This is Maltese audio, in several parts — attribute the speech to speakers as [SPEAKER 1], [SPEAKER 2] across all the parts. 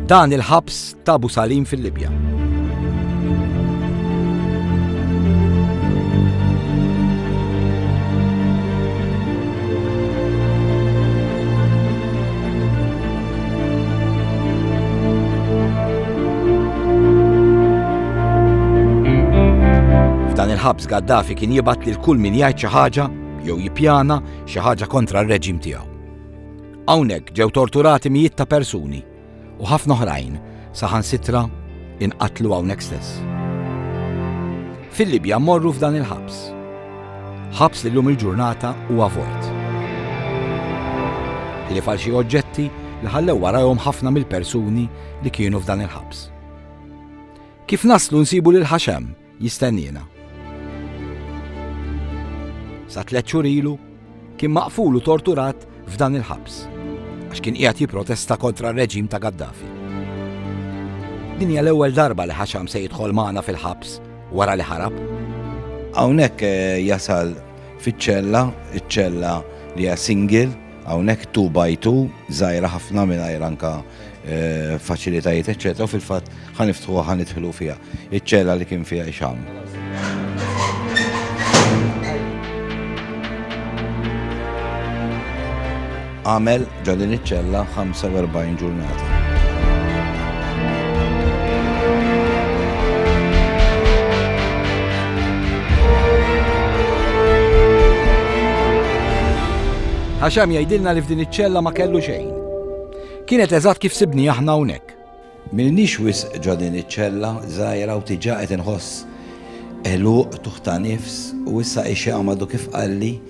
[SPEAKER 1] Dan il-ħabs ta' Abu Salim fil-Libja. F'dan il-ħabs Gaddafi kien jibat lil kull min jgħid xi ħaġa jew jippjana xi ħaġa kontra r-reġim tiegħu. Hawnhekk ġew torturati mijiet ta' persuni u ħafna oħrajn saħansitra inqatlu hawnhekk stess. Fil-Libja mmorru f'dan il-ħabs. Ħabs li llum il-ġurnata huwa vojt. Ħlief għal xi oġġetti li ħallew warajhom ħafna mill-persuni li kienu f'dan il-ħabs. Kif naslu nsibu lil Ħaxem jistenniena. Sa tliet xhur ilu kien maqful u torturat f'dan il-ħabs għax kien qiegħed jipprotesta kontra r-reġim ta' Gaddafi. Din hija l-ewwel darba li Ħaxam se jidħol magħna fil-ħabs wara li ħarab. Hawnhekk eh, jasal fiċ-ċella, iċ-ċella li hija single, Hawnhekk two by two, żgħira ħafna mingħajr anka eh, faċilitajiet eċċetera, fil-fatt ħaniftħu ħanidħlu fiha. Iċ-ċella li kien fiha ixam. għamel ġodin iċ-ċella 45 ġurnata. Ħaxam jgħidilna li f'din iċ-ċella ma kellu xejn. Kienet eżatt kif sibni aħna hawnhekk. Milniex wis ġo din iċ-ċella żgħira u tiġa qed inħoss eluq tuħta nifs u issa ixi għamadu kif qalli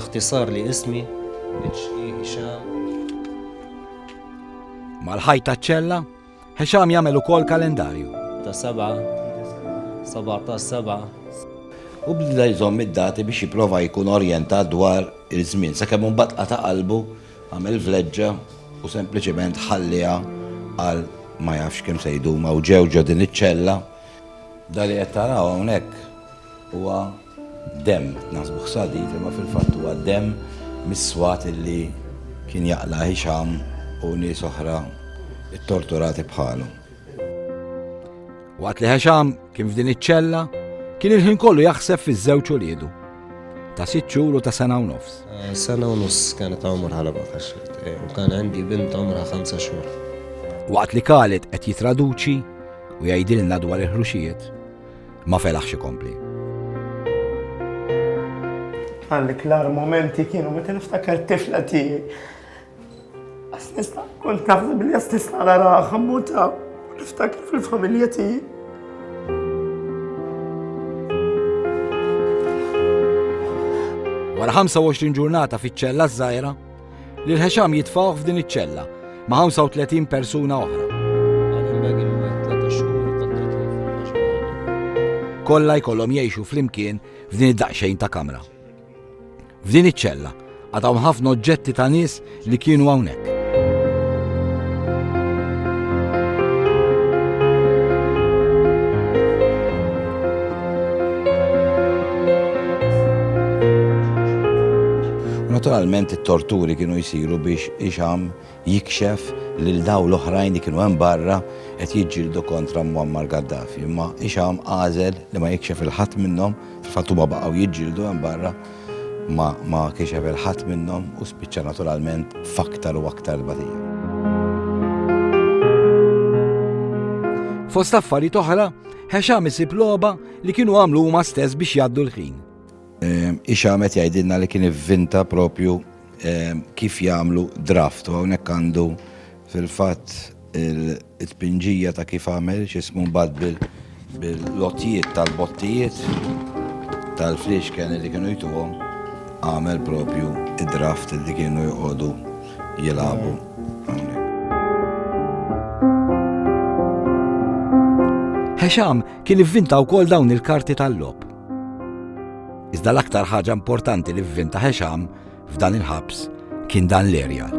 [SPEAKER 1] Iħtisar li ismi, HE Hixam. Mal-ħajt taċ-ċella, Hixam jagħmel ukoll kalendarju. Ta' seba', 17 seba'. U bda jżomm id-dati biex jipprova jkun orjentat dwar il-żmien, sakemm imbagħad qata' qalbu għamel vleġġa u sempliċiment ħalliha għal ma jafx kemm se jdum u ġew ġo din iċ-ċella. Dali qed taraw hawnhekk huwa Demm, naħsbuh sadid imma fil-fatt huwa demm mis-swat li kien jaqla' Hisham u nies oħra ttorturati bħalu. Waqt li Hisham kien f'din iċ-ċella, kien il-ħin kollu jaħseb fiż-żewġ uliedu ta' sitt xhur u ta' sena u nofs. Sena u nofs kienet għomorha l u kien għandi bint għomorha ħamsa xhur. Waqt li Khalid qed jitraduċi u jgħidilna dwar il-ħruxijiet, ma felaħx ikompli. Għalli klar momenti kienu meta niftakar tifla tiegħi. Għas nista' kont naħseb li għas nista' nara ħammuta niftakar fil-familja tiegħi. Wara 25 ġurnata fiċ-ċella żgħira, Lil Hesham jitfgħuh f'din iċ-ċella ma' 35 persuna oħra. Kollha jkollhom jgħixu flimkien f'din id-daqsxejn ta' kamra. F'din iċ-ċella għadhom ħafna oġġetti ta' nies li kienu hawnhekk. Naturalment it-torturi kienu jsiru biex Hixam jikxef lil dawn l-oħrajn li kienu hemm barra qed jiġġieldu kontra Muammar Gaddafi. Imma Hixam għażel li ma jikxef lil ħadd minnhom, fil-fatt huma baqgħu jiġġieldu hemm barra, ma ma kixef lil ħadd minnhom u spiċċa naturalment f'aktar u aktar tbatija. Fost affarijiet oħra, Hixam isib logħba li kienu għamlu huma stess biex jgħaddu l-ħin. Ix-xamed jgħidilna li kien ivvinta propju kif jagħmlu draft u hawnhekk għandu fil-fatt il-tpinġija ta' kif għamel x'ismu mbagħad bil-lotjiet tal-bottijiet tal-fliexken li kienu jtuhom għamel propju id-draft li kienu joqogħdu jilagħbu hawnhekk. Hexam kien ivvinta wkoll dawn il-karti tal-logħob. Iżda l-aktar ħaġa importanti li vvinta Ħexam f'dan il-ħabs kien dan l-erjal.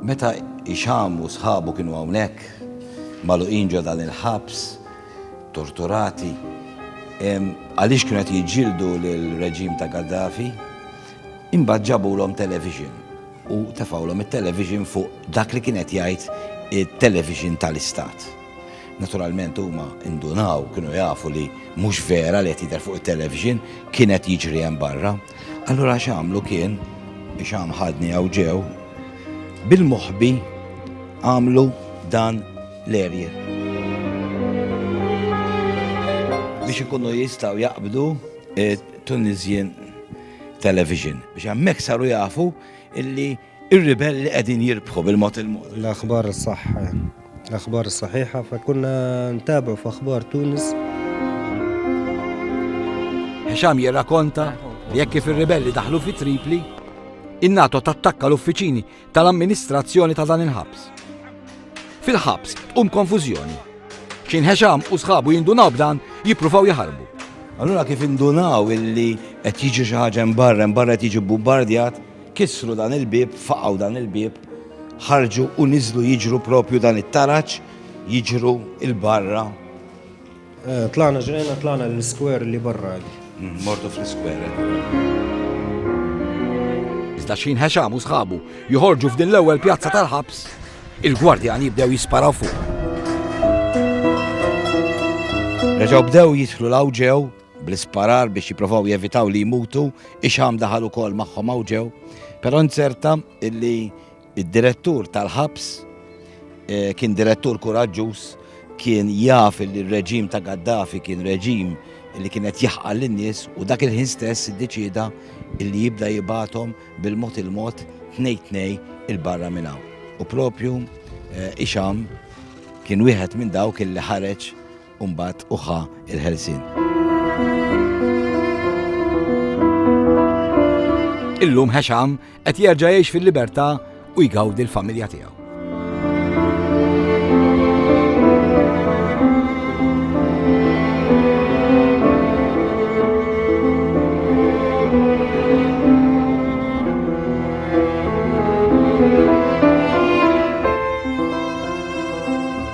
[SPEAKER 1] Meta Ixam u sħabu kienu hawnhekk, magħluqin ġo dan il-ħabs, torturati, għaliex kienu qed jiġġieldu l-reġim ta' Gaddafi, imbagħad ġabulhom television u tefawlhom it-television fuq dak li kien qed jgħid it-television tal-istat. Naturalment huma indunaw, kienu jafu li mhux vera li qed jidher fuq it-television, kien qed jiġri hemm barra. Allura x'għamlu kien biex għam ħadni għaw ġew bil-moħbi għamlu dan l-erje. Biex ikunu jistaw jaqbdu eh, Tunisian Television. Biex għammek saru jafu illi Ir-ribelli qegħdin jirbħu bil-mod il-mod. L-aħbar is-saħħa, l-aħbar is-saħiħa fa kunna ntabu f'aħbar Tunis. Hisham jirrakonta li jekk kif ir-ribelli daħlu fi Tripli, in-NATO tattakka l-uffiċini tal-amministrazzjoni ta' dan il-ħabs. Fil-ħabs tqum konfużjoni. X'in Hisham u sħabu jindunaw b'dan jippruvaw jaħarbu. Allura kif indunaw illi qed jiġi xi ħaġa barra, barra qed jiġi bombardjat, Kissru dan il-bieb, faqgħu dan il-bieb, ħarġu u niżlu jiġru propju dan it-taraġ, jiġru il-barra. Eh, tlana ġrejna, tlana l-skwer li barra. Mm, mortu fl-skwer. Iżda xin ħeċam u sħabu joħorġu f'din l-ewwel pjazza tal-ħabs, il-gwardjan jibdew jisparaw fuq. Reġaw bdew jitħlu l-awġew bl-isparar biex jipprovaw jevitaw li jmutu, ix-xamm daħal ukoll magħhom hawn ġew, però nzerta illi id-direttur tal-ħabs eh, kien direttur kuraġġuż kien jaf li r-reġim ta' Gaddafi kien reġim li kienet jaħqal lin-nies u dak il-ħin stess iddeċida li jibda jibatom bil-mod il-mod tnej tnej il-barra minn hawn. U propju eh, Ixam kien wieħed minn dawk il ħareġ u mbagħad hu ħa l-ħelsien. Illum Hesham qed jerġa' jgħix fil-libertà u jgawdi l-familja tiegħu.